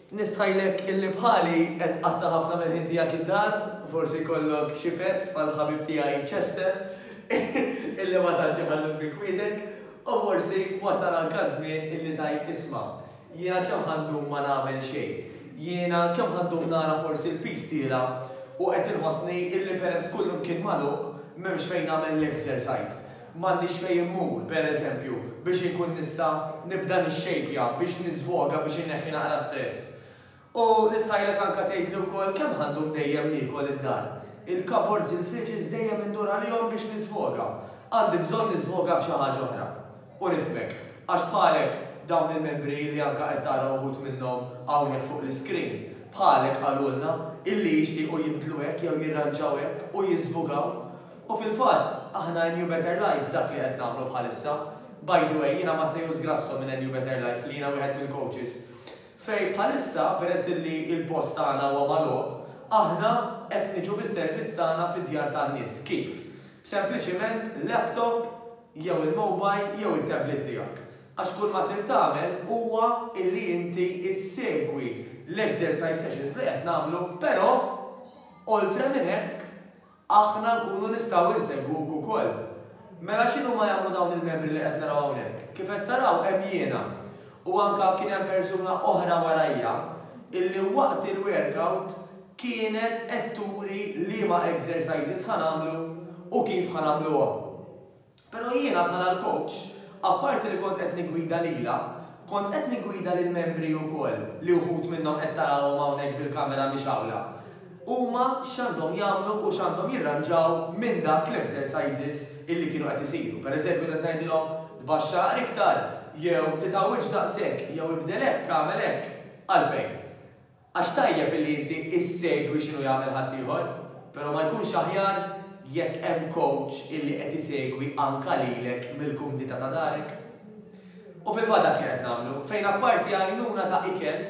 Nistħajlek illi bħali qed qatta ħafna minn ħin tiegħek id-dar, forsi kollok xi pezz bħal ħabib tiegħi Chester, illi ma tantx iħallu bikwidek, u forsi wasal anke żmien illi tajt isma'. Jiena kemm ħandum ma nagħmel xejn. Jiena kemm ħandum nara forsi l-pistila u qed inħossni illi peress kullum kien magħluq m'hemmx fejn nagħmel l-exercise. M'għandix fejn immur, per eżempju, biex inkun nista' nibda nixxejpja, biex niżvoga, biex inneħħi naqra stress. U l-istħajla kanka tgħidli wkoll kemm ħa ndum dejjem niekol id-dar. Il-cupboards, il-fridges dejjem indur għalihom biex niżvoga. Għandi bżonn niżvoga f'xi ħaġa oħra. U nifhmek. Għax bħalek, dawn il-membri li anka qed tara uħud minnhom hawnhekk fuq l-iscreen, bħalek qalulna illi jixtiequ jinbdlu hekk jew jirranġaw hekk u jiżvogaw. U fil-fatt, aħna NU Better Life dak li qed nagħmlu bħalissa. By the way, jiena Matteus Grasso minn NU Better Life li jiena wieħed mill-coaches. Fejn bħalissa, peress li l-post tagħna huwa magħluq, aħna qed niġu bis-servizz tagħna fid-djar tan-nies. Kif? B'sempliċiment laptop jew il-mobile jew it-tablet tiegħek. Għax kull ma trid tagħmel huwa illi inti issegwi l-exercise sessions li qed nagħmlu, però oltre minn hekk aħna nkunu nistgħu insegwuk ukoll. Mela x'inhuma jagħmlu dawn il-membri li qed naraw hawnhekk? Kif qed taraw hemm jiena, u anke kien hemm persuna oħra warajja illi waqt il-werkout kienet qed turi liema exercises ħa nagħmlu u kif ħa nagħmluhom. Però jiena bħala l-kowċ, apparti li kont qed niggwida lilha, kont qed niggwida lill-membri wkoll li wħud minnhom qed tarawhom hawnhekk bil-kamera mixgħula. Huma x'għandhom jagħmlu u x'għandhom jirranġaw minn dak l-exercises illi kienu qed isiru. Per eżempju kont qed ngħidilhom tbaxxa aqri iktar jew titgħawwidx daqshekk jew ibdel hekk, agħmel hekk. Għalfejn? Għax tajjeb illi inti issegwi x'inhu jagħmel ħaddieħor, però ma jkunx aħjar jekk hemm kowċ illi qed isegwi anka lilek mill-kumdità ta' darek? U fil-fatt dak li qed nagħmlu, fejn apparti għajnuna ta' ikel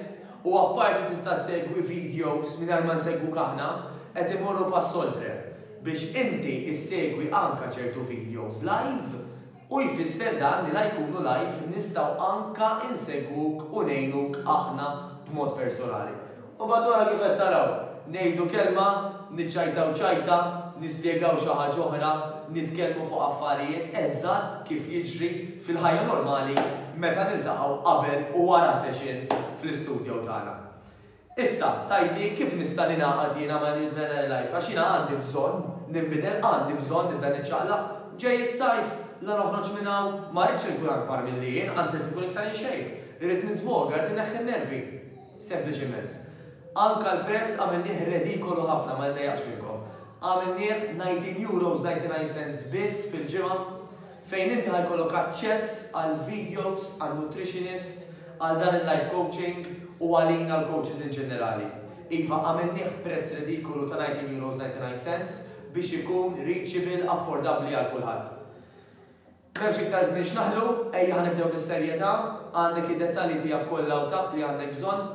u apparti tista' ssegwi vidjows mingħajr ma nsegwuk aħna, qed immorru pass oltre biex inti ssegwi anka ċertu vidjows live, U jfisser dan li la jkunu live nistgħu anka insegwuk u ngħinuk aħna b'mod personali. U mbagħad wara kif qed taraw, ngħidu kelma, niċċajtaw ċajta, nispjegaw xi ħaġa oħra, nitkellmu fuq affarijiet, eżatt kif jiġri fil-ħajja normali meta niltaqgħu qabel u wara session fl-istudjow tagħna. Issa, tgħidli, kif nista' ningħaqad jiena ma' New Trinitarian Life? Għax jiena għandi bżonn ninbidel, għandi bżonn nibda niċċaqlaq. Ġej is-sajf, la noħroġ minn hawn, ma rridx inkun akbar milli jien, anzi rrid inkun iktar in shape. Irrid niżvoga, irrid inneħħi n-nervi. Sempliċi immens. Anke l-prezz għamilnieh redikolu ħafna, ma niddejjaqx minnkom. Għamilnieh 19 euros 99 cents biss fil-ġimgħa. fejn inti ħa jkollok aċċess għal videos, għal nutritionist, għal dan il-life coaching u għalina l-coaches in ġenerali. Iva, għamilnieh b'prezz ridikolu ta' €19.99 biex ikun reachable, affordabbli għal kulħadd. M'hemmx iktar żmien x'naħlu, ejja ħa nibdew bis-serjetà, għandek id-dettalji tiegħek kollha hawn taħt li għandek bżonn.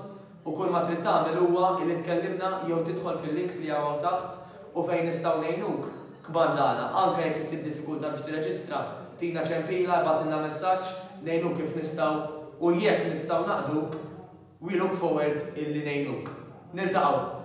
U kull ma trid tagħmel huwa li tkellimna jew tidħol fil-links li hawn hawn taħt u fejn nistgħu ngħinuk. Kmandana, anke jekk issib diffikultà biex tirreġistra, tina ċempila, ibgħatilna messaġġ, ngħinuk kif nistgħu u jekk nistgħu naqduk, we look forward illi ngħinuk. Niltaqgħu!